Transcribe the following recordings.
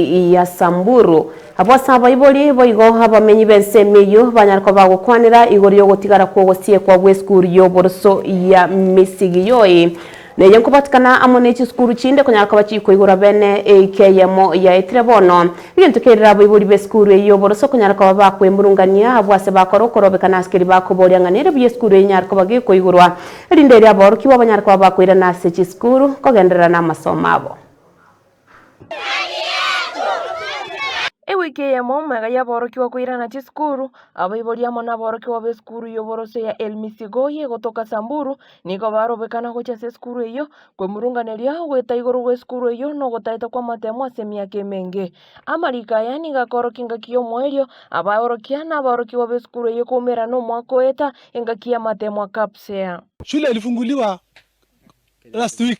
ya Samburu. Abwo ase abaibori boigo abamenyi b'ense ime eyio banyare koba bagokwanera igoro y'ogotigara kw'ogosiekwa gw'esukuru y'oboroso ya Misigiyoi. Neye nkobatikana amo ne chisukuru chinde konyara koba chikoigorwa bene eika eyemo yaetire bono. Egento kerire abaibori b'esukuru eyio y'oboroso konyara koba bakwemurungania abwo ase bakore okorobeka n'asikeri bakoboria ng'a nere buya esukuru enyare koba gekoigorwa erinde erio aborokigwa banyare koba bakoirana ase chisukuru kogenderera n'amasomo abo. Ewiki eyemo mega y'aborokigwa koirana chisukuru, abaibori amo naborokigwa b'esukuru y'oborosio ya El Misigoi egotoka Samburu nigo barobekana gochia ase esukuru eyio. Kwemurunganeria goeta igoro gw'esukuru eyio nogotaeta kw'amatemo ase emiaka emenge. Amariko aya nigo akorokia engaki y'omoerio, abaorokia na aborokigwa b'esukuru eyio koumera nomwaka oeta engaki y'amatemo aa KAPSEA. Shule ilifunguliwa last week.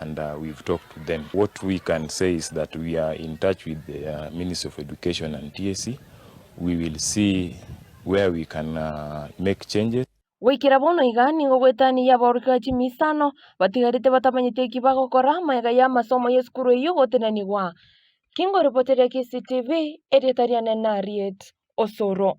and we've talked to them. What we can say is that we are in touch with the Ministry of Education and TSC. We will see where we can make changes. Goikera bono iga nigo gwetania y'aborokigwa chimia isano batigarete batamanyeti eki bagokora amo iga y'amasomo y'esukuru eyio gotenenigwa. Kingoripoteria KCTV, erieta riane nariet. Osoro.